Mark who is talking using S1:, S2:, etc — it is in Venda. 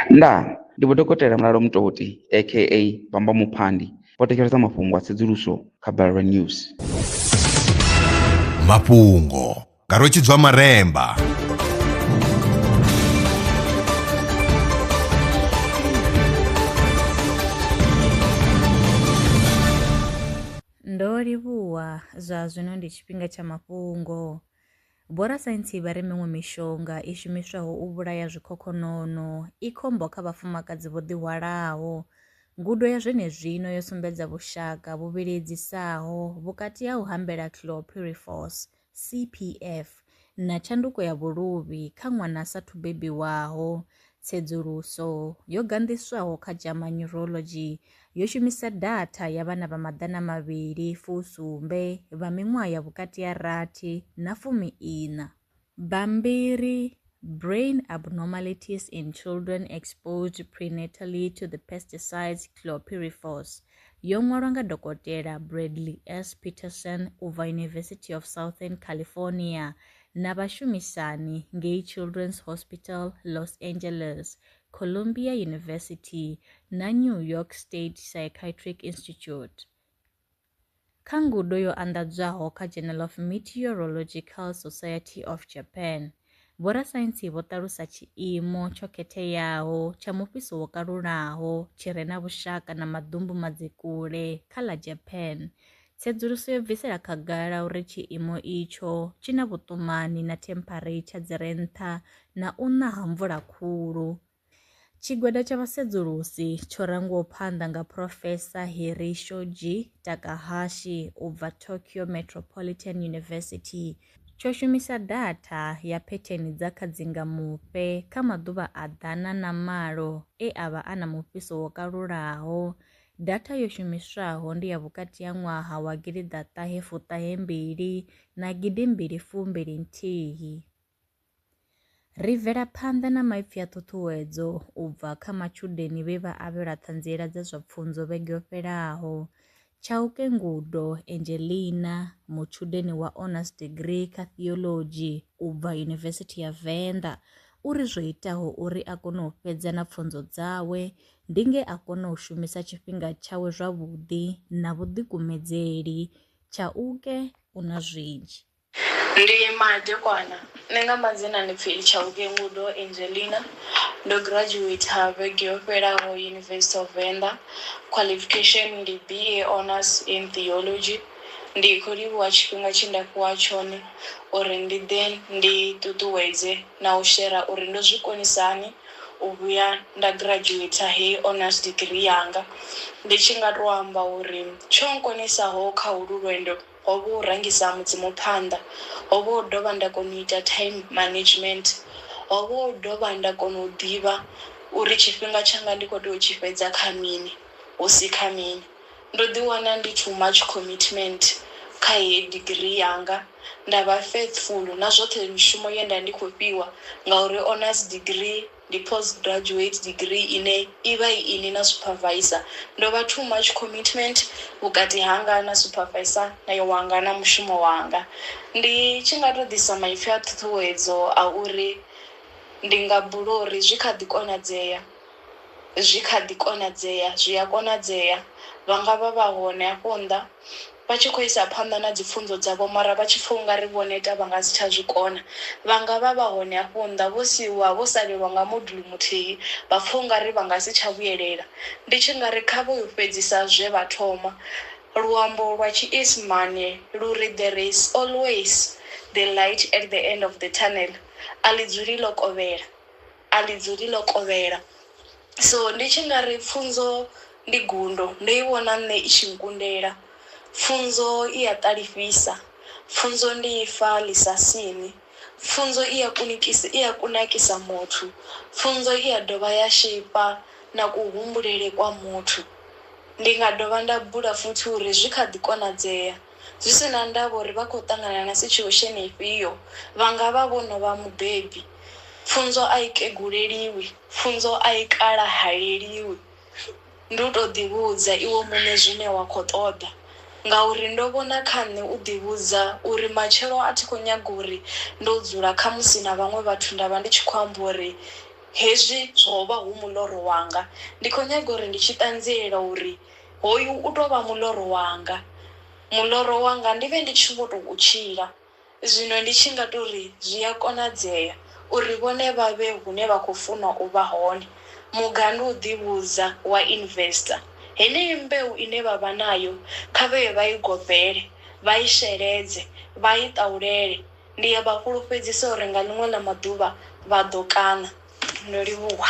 S1: Ndaa! Ndi Vho Dokotela Mulalo Mutoti aka Bamba Muphandi vho thetshelesa mafhungo a tsedzuluso kha Balelwa News. Mafhungo nga Rwetshidzwa Maremba. Ndo livhuwa, zwa zwino ndi tshifhinga tsha mafhungo. Vhorasaintsi vha ri miṅwe mishonga i shumiswaho u vhulaya zwikhokhonono i khombo kha vhafumakadzi vho ḓihwalaho. Ngudo ya zwenezwino yo sumbedza vhushaka vhu vhiledzisaho vhukati ha u hambela chlorpyrifos, CPF, na tshanduko ya vhuluvhi kha ṅwana a sa thu bebiwaho, Tsedzuluso yo ganḓiswaho kha JAMA Neurology yo shumisa datha ya vhana vha maḓana mavhili fusumbe vha miṅwaha ya vhukati ha rathi na fumi-iṋa. Bammbiri, Brain Abnormalities in Children Exposed Prenatally to the Pesticides Chlorpyrifos, yo ṅwalwa nga Dokotela Bradley S. Peterson u bva University of Southern California na vhashumisani ngei Children's Hospital Los Angeles, Columbia University na New York State Psychiatric Institute. Kha ngudo yo anḓadzwaho kha Journal of Meteorological Society of Japan, vhorasaintsi vho ṱalusa tshiimo tsho khetheaho tsha mufhiso wo kalulaho tshi re na vhushaka na maḓumbu madzikule kha ḽa Japan Tsedzuluso yo bvisela khagala uri tshiimo itsho tshi na vhuṱumani na themphareitha dzi re nṱha na u na ha mvula khulu. Tshigwada tsha vhasedzulusi tsho rangiwaho phanḓa nga Phrofesa Hiri Shoji Takahashi u bva Tokyo Metropolitan University tsho shumisa datha ya phetheni dza kha dzingamufhe kha maḓuvha a ḓana na malo e a vha a na mufhiso wo kalulaho Data yo shumiswaho ndi ya vhukati ha ṅwaha wa gidi ḓa ṱahe fuṱahe mbili na gidi mbili fumbili nthihi. Ri bvela phanḓa na maipfi a ṱhuṱhuwedzo u bva kha matshudeni vhe vha avhelwa ṱhanziela dza zwa pfunzo vhege yo fhelaho. Chauke Ngudo Angelina, mutshudeni wa Honours Degree kha Theology u bva Yunivesithi ya Venḓa, u ri zwo itaho uri a kone u fhedza na pfunzo dzawe ndi nge a kona u shumisa tshifhinga tshawe zwavhuḓi na vhuḓikumedzeli tsha u ke u na zwinzhi. Ndi madekwana. Nṋe nga madzina ndi pfi Tshauke Ngudo Angelina. Ndo graduater vhege yo fhelaho University of Venda. Qualification ndi BA Honours in Theology. Ndi khou livhuwa tshifhinga tshe nda fhiwa tshone uri ndi ḓe ndi ṱuṱuwedze na u shera uri ndo zwi konisa hani u vhuya nda graduater heyi honours degree yanga. Ndi tshi nga tou amba uri tsho nkonesaho kha holwu lwendo ho vha u rangisa Mudzimu phanḓa, ho vha u dovha nda kona u ita time management, ho vha u dovha nda kona u ḓivha uri tshifhinga tshanga ndi khou tea u tshi fhedza kha mini hu si kha mini. Ndo ḓiwana ndi too much commitment kha heyi degree yanga, nda vha faithful na zwoṱhe mishumo ye nda vha ndi khou fhiwa ngauri honours degree ndi post graduate degree ine i vha i inwi na supervisor. Ndo vha too much commitment vhukati hanga na supervisor na wanga na mushumo wanga. Ndi tshi nga tou ḓisa maipfhi a ṱhuṱhuwedzo a uri ndi nga bula uri zwi kha ḓi konadzea. Zwi kha ḓi konadzea, zwi a konadzea. Vha nga vha vha hone hafho nnḓa, vha tshi khou isa phanḓa na dzipfunzo dzavho, mara vha tshi pfa u nga ri vho neta, vha nga si tsha zwi kona. Vha nga vha vha hone hafho nnḓa, vho siiwa vho salelwa nga modulu muthihi, vha pfa u nga ri vha nga si tsha vhuyelela. Ndi tshi nga ri kha vho yo fhedzisa zwe vha thoma. Luambo lwa Tshiisimane lu ri, There is always the light at the end of the tunnel, A ḽi dzuli ḽo kovhela. A ḽi dzuli ḽo kovhela. So ndi tshi nga ri pfunzo ndi gundo. Ndo i vhona nṋe i tshi nkundela. Pfunzo i a ṱalifhisa. Pfunzo ndi ifa ḽi sa siṋi. Pfunzo i a kunikisa, i a kunakisa muthu. Pfunzo i a dovha ya sheipa na kuhumbulele kwa muthu. Ndi nga dovha nda bula futhi uri zwi kha ḓi konadzea. Zwi si na ndavha uri vha khou ṱangana na sitshiosheni ifhio, vha nga vha vho no vha mubebi. Pfunzo a i keguleliwi. Pfunzo a i kalahaleliwi. Ndi u tou ḓivhudza iwe muṋe zwine wa khou ṱoḓa. Ngauri ndo vhona kha nṋe u ḓivhudza uri matshelo a thi khou nyaga uri ndo dzula khamusi na vhaṅwe vhathu nda vha ndi tshi khou amba uri hezwi zwo vha hu muloro wanga. Ndi khou nyaga uri ndi tshi ṱanziela uri Hoyu u tou vha muḽoro wanga, muḽoro wanga ndi vhe ndi tshi vho tou u tshila. Zwino ndi tshi nga tou ri zwi a konadzea uri vhone vha vhe hune vha khou funa u vha hone, mugandu u ḓivhudza wa Investa. Heneyi mbeu ine vha vha nayo kha vhe vha i gobele, vha i sheledze, vha i ṱaulele. Ndi a vha fhulufhedzisa uri nga ḽiṅwe ḽa maḓuvha vha ḓo kaṋa. No livhuwa.